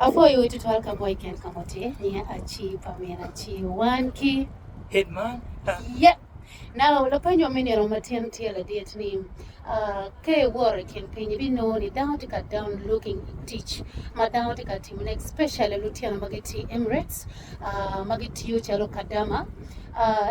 Apwoyo wu tutwal ka boy ken ka muti niya aci pa min aci wan ki Headmaster. Yep. Now lapenyo me nino matin tye ladit ni uh, ka iworo i kin piny ibinongo ni dano tye ka down looking tic ma dano tye ka timo ne especially lutino ma gitye Emirates uh, ma gitiyo calo kadama uh,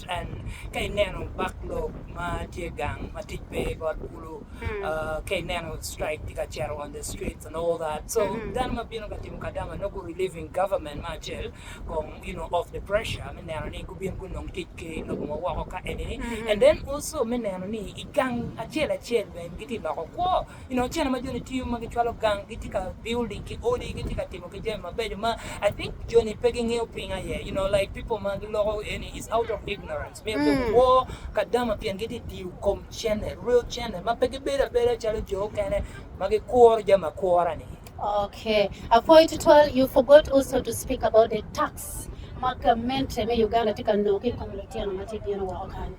Cal, Ka ineno bak lok ma tye gang ma tic pe i got kulu, ka ineno strike tye ka cito on the streets and all that, so dano ma bino ka timo kadama nongo gu relieving government me acel kong you know of the pressure me neno ni gubin gunong tic ki lobo ma woko ka eni-ni and then also me neno ni i gang acel acel bene gitye ka loko kwo I noceno ma joni tiyo ma gicwalo gang gitye ka building ki odi gitye ka timo ki jami mabeco ma I think joni pe gingeyo piny aye you know like people ma giloko eni is out of ignorance myero pe guwor kadama pien gitye tiyo kom cene real cene ma pe gibedo abeda calo jo okene ma gikuro jami akura ni. Okay. Apwoyo tutwal, you forgot also to speak about the tax ma gamente me Uganda tye ka nongo ki i kom lutino ma tye bino woko kany.